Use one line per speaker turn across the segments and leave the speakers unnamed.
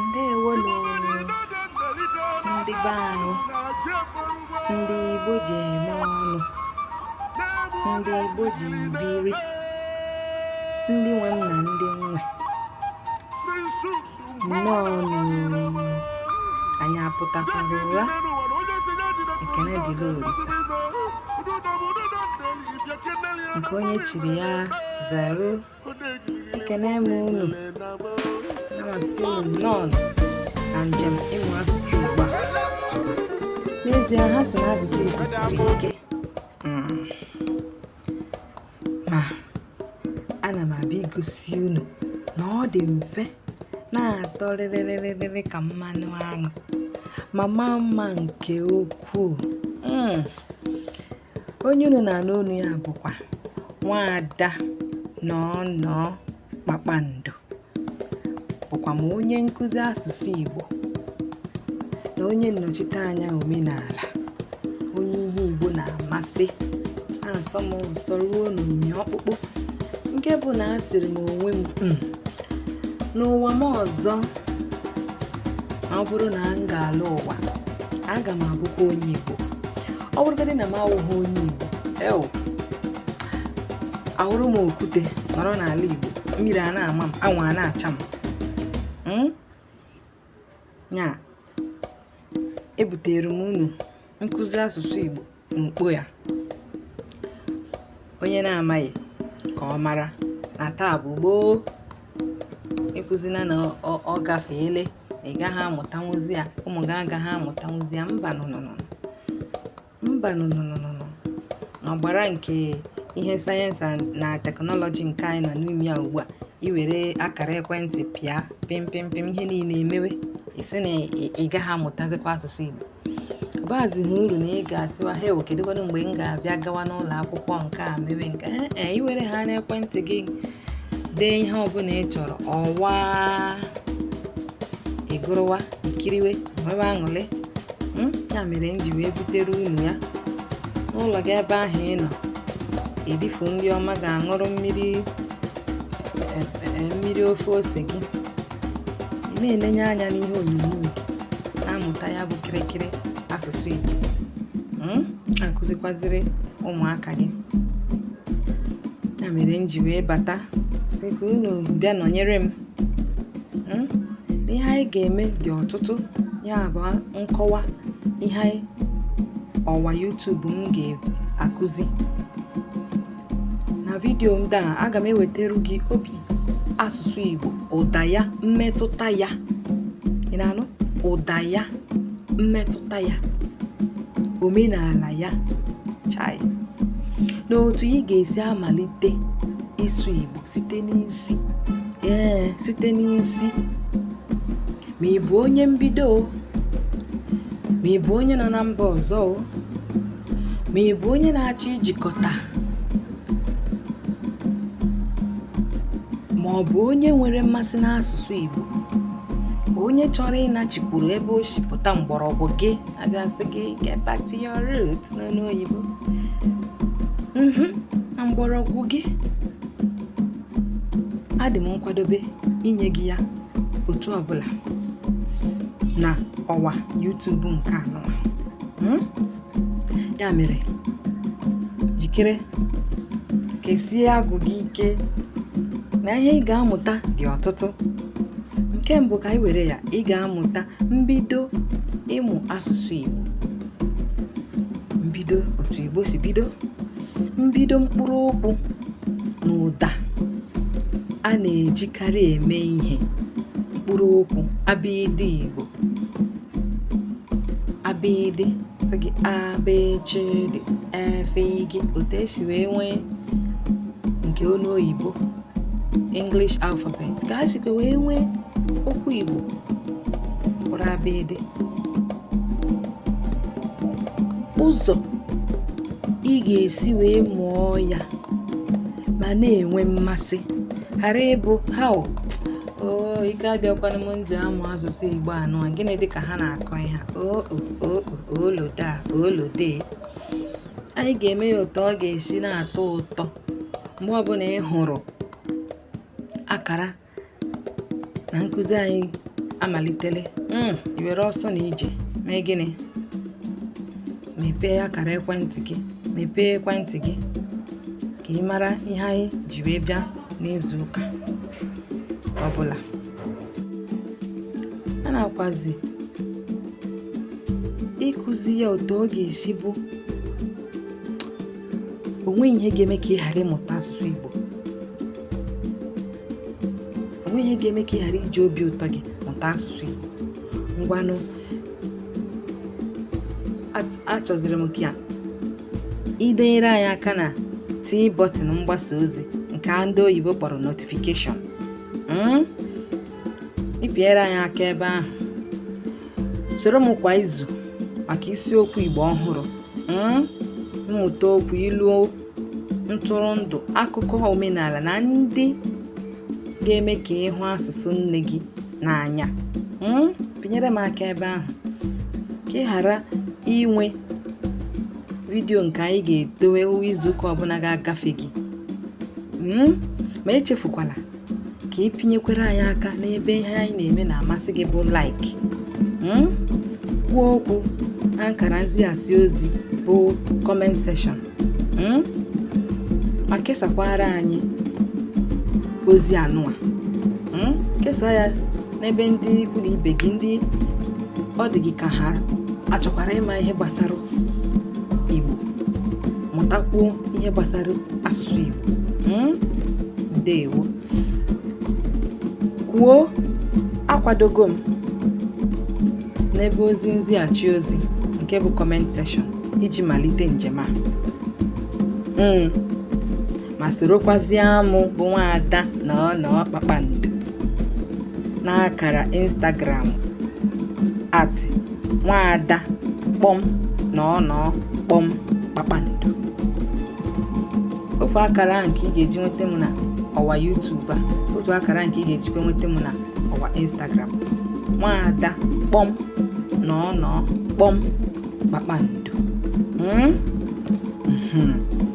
ndewonu ndị be anyị ndị Igbo ji eme ọnụ ndị Igbo ji biri ndị nwe m na ndị nwe nnọọ anyị apụtakwara ụra ekene dịrị Olisa nke onye chiri ya zere ekene m unu ana m asị unu nnọọ na njem ịmụ asụsụ Igbo a n'ezie ha sị na asụsụ Igbo siri ike hmm. ma ana m abịa igosi unu na ọ dị mfe na-atọ rịrịrịrịrị ka mmanụ aṅụ ma maa mma nke ukwuu hmm. onye unu na-anụ olu ya bụkwa nwaada nọọ nọọ kpakpando bụkwa m onye nkụzi asụsụ Igbo na onye nnọchite anya omenala onye ihe Igbo na-amasị na-asọ m ụsọ ruo n'ụmị ọkpụkpụ nke bụ na asịrị m onwe m hmm, n'ụwa m ọzọ ọ bụrụ na m ga-ala ụwa aga m abụkwa onye Igbo ọ bụrụgodị na m awụghị onye Igbo ew awụrụ m okwute nọrọ n'ala Igbo mmiri a na-ama m anwụ a na-acha m hmm? ya ebutere m unu nkụzi asụsụ Igbo n'ukpo ya onye na-amaghị ka ọ mara na taa bụ gboo ekwuzina na ọ gafeele ị gaghị amụtanwuzi ya ụmụ gị agaghị amụtanwuzi ya mba nụnụnụ mba nụnụnụnụ n'ọgbara nke ihe sayensị na teknọlọji nke anyị nọ n'ime ya ugbu a i were akara ekwentị pịa pịmpịmpịm ihe niile emewe ị sị na ị gaghị amụtazikwa asụsụ Igbo bazịghị uru na ị ga-asịwa ha ewo kedụkwanụ mgbe m ga-abịa gawa n'ụlọ akwụkwọ nke a mewe nke ee eh, eh, i were ha n'ekwentị gị dee ihe ọbụla ị chọrọ ọ waa ị gụrụwa i kiriwe nwewe aṅụrị hmm? ya mere m ji wee butere unu ya n'ụlọ gị ebe ahụ ị nọ erifu nri ọma gị aṅụrụ mmiri eh, mmiri ofe ose gị ị na-enenye anya n'ihe onyonyo gị na-amụta ya bụ kịrịkịrị asụsụ Igbo hmm? na-akụzikwaziri ụmụaka gị ya mere m ji wee bata sị ka unu bịa nọnyere m hmm? ihe anyị ga-eme dị ọtụtụ ya bụ nkọwa ihe ọwa YouTube m ga-akụzi na vidiyo ndị a aga m ewetara gị obi asụsụ Igbo ụda ya mmetụta ya ị na-anụ ụda ya mmetụta ya omenala ya chai na otu ị ga-esi amalite ịsụ Igbo site n'isi ee site n'isi ma ị bụ onye mbido ma ị bụ onye nọ na mba ọzọ ma ị bụ onye na-achọ ijikọta ma ọ bụ onye nwere mmasị n'asụsụ Igbo onye chọrọ ịnachikwuru ebe o si pụta mgbọrọgwụ gị abịa sị gị get back to your root n'olu oyibo mhm, na mgbọrọgwụ gị adị m nkwadobe inye gị ya otu ọbụla na ọwa YouTube nke anụ a hmm? ya mere jikere kesie agụ gị ike na ihe ị ga-amụta dị ọtụtụ nke mbụ ka anyị were ya ị ga-amụta mbido ịmụ asụsụ Igbo mbido otu Igbo si bido mbido mkpụrụ okwu na ụda a na-ejikarị eme ihe mkpụrụ okwu abịịdị Igbo abịịdị sị gị abịchịdị efe gị otu e si wee nwee nke olu oyibo English alphabet ka a sikwa wee nwee okwu Igbo kpọrọ abịịdị ụzọ ị ga-esi wee mụọ ya ma na-enwe mmasị ghara ịbụ ha o ike adịọkwanụ m nji amụ asụsụ Igbo anụ a gịnị dịka ha na-akọ ihe ooloda oolode anyị ga-eme ya ụtọ ọ ga-esi na-atọ ụtọ mgbe ọbụla ị hụrụ akara na nkụzi anyị amalitele hmm, i were ọsọ na ije mee gịnị mepee akara ekwentị gị mepee ekwentị gị ka ị mara ihe anyị ji wee bịa n'izu ụka ọbụla a na-akwazi ịkụzi ya otu ọ ga-esi bụ o nweghị ihe ga-eme ka ị ghara ịmụta asụsụ Igbo o nweghị ihe ga-eme ka ị ghara iji obi ụtọ gị mụta asụsụ Igbo ngwanụ achọziri m ka i denyere anyị aka na tii bọtịn mgbasa ozi nke ndị oyibo kpọrọ notification hmm? ịpinyere anyị aka ebe ahụ soro m kwa izu maka isiokwu Igbo ọhụrụ hmm? mmụta okwu ilu ntụrụndụ akụkọ omenala na ndị ga-eme ka ị hụ asụsụ nne gị n'anya hmm? pinyere m aka ebe ahụ ka ị ghara inwe vidiyo nke anyị ga-edowe izu ụka ọbụla ga-agafe gị hmm? ma echefukwala ka ị pinyekwere anyị aka n'ebe ihe anyị na-eme na-amasị gị bụ like hmm? kwuo okwu na nkara nzighachi ozi bụ comment section hmm? ma kesakwara anyị ozi anụwa hmm? kesaa ya n'ebe ndị ikwu na ibe gị ndị ọ dị gị ka ha achọkwara ịma ihe gbasara mụtakwuo ihe gbasara asụsụ Igbo hmm? ndewo kwuo akwadogo m n'ebe ozi nzighachi ozi nke bụ comment section iji malite njem a hmm. ma sorokwazie mụ bụ nwaada Nọnọ kpakpando n'akara Instagram at nwaada kpọm Nọnọ kpọm kpakpando ofu akara nke ị ga-eji nweta m na ọwa YouTube a ofu akara nke ị ga-ejikwa nweta m na ọwa Instagram nwaada kpọm Nọnọ kpọm kpakpando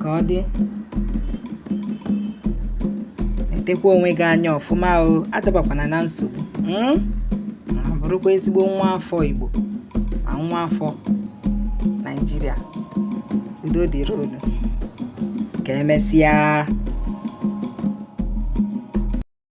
ka ọ dị letekwa onwe gị anya ọfụma o adabakwana na nsogbu hmm? ma bụrụkwa ezigbo nwa afọ Igbo ma nwa afọ Naịjirịa udo dịrị unu ka emesịa